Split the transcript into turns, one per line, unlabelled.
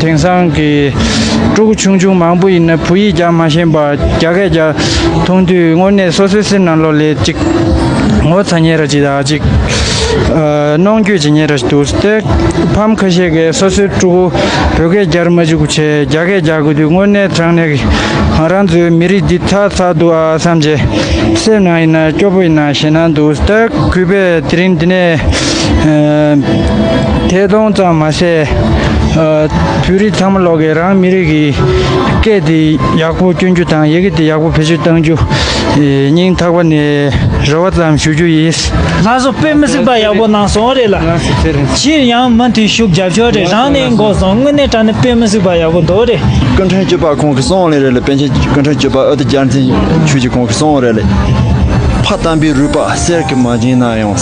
དེང་སང་གི་ཕྲུ་གུ་ཆུང་ཆུང་མང་པོ་ཡིན་ན་བོད་ཡིག་ཀྱང་མ་ཤེས་པར་རྒྱ་སྐད་ཀྱང་མཐོང་དུས་དངོས་གནས་སོ་སོའི་སེམས་ནང་ལོག་ལས་ཅིག་ངོ་ཚ་ཉེ་ར་ཅིག་དག་ཅིག་གནོང་འགྱོད་ཅིག་ཉེ་ར་ཅིག་འདུག་དེར་ཕམ་ཁ་ཤས་ཀྱིས་སོ་སོའི་ཕྲུ་གུ་བོད་སྐད་རྒྱར་མ་འཇུག་ཆེད་རྒྱ་སྐད་རྒྱག་དགོས་དུས་དངོས་གནས་དྲང་གནས་ཀྱི་རང་ཚོའི་མི་རིགས་འདི་ཚ་ཚ་འདུག་ཨ་བསམ་གྱི་སེམས་ནང་ཡིན་ན་སྐྱོ་པོ་ཡིན་ན་ཞེད་སྣང་འདུག་སྟེ་གུས་པས་དེ་རིང་འདི་ནས་ཐད་གཏོང་ཙམ་མ་ཟད། བོད་རིགས་ཚང་མ་ལོག་གི་རང་མི་རིགས་ཀྱི་སྐད་དེ་ཡག་པོ་སྐྱོན་རྒྱུ་དང་ཡི་གེ་དེ་ཡག་པོ་བེད་སྤྱོད་གཏང་རྒྱུ། སྙིང་ཐག་པ་ནས་རེ་བ་ཙམ་ཞུ་རྒྱུ་ཡིན། ལྷ་བཟོ་དཔེ་མི་
གཟིགས་པ་ཡག་པོ་གནང་སོང་རེད་ལ། ཕྱིར་ཡང་མུ་མཐུད་ཤུགས་རྒྱབ་ཆོག་རེད་རང་ནས་འགོ་བཟང་དངོས་གནས་དྲ་ནི་དཔེ་མི་གཟིགས་པ་ཡག་པོ་འདུག་རེད། སྐུ་མཁྲུན་གཅོད་པ་
ཁོང་གི་སོང་ལེ་རེད་ལ་པན་ཆེན་སྐུ་མཁྲུན་གཅོད་པ་ཨོ་ཏི་བསྐྱར་འཛིན་ཆུ་གཅིག་ཁོང་གི་སོང་རེད་ལེ། ཕ་དམ་པའི་རུས་པ་གསེར་གྱི་མ་བྱིན་ན་ཡང།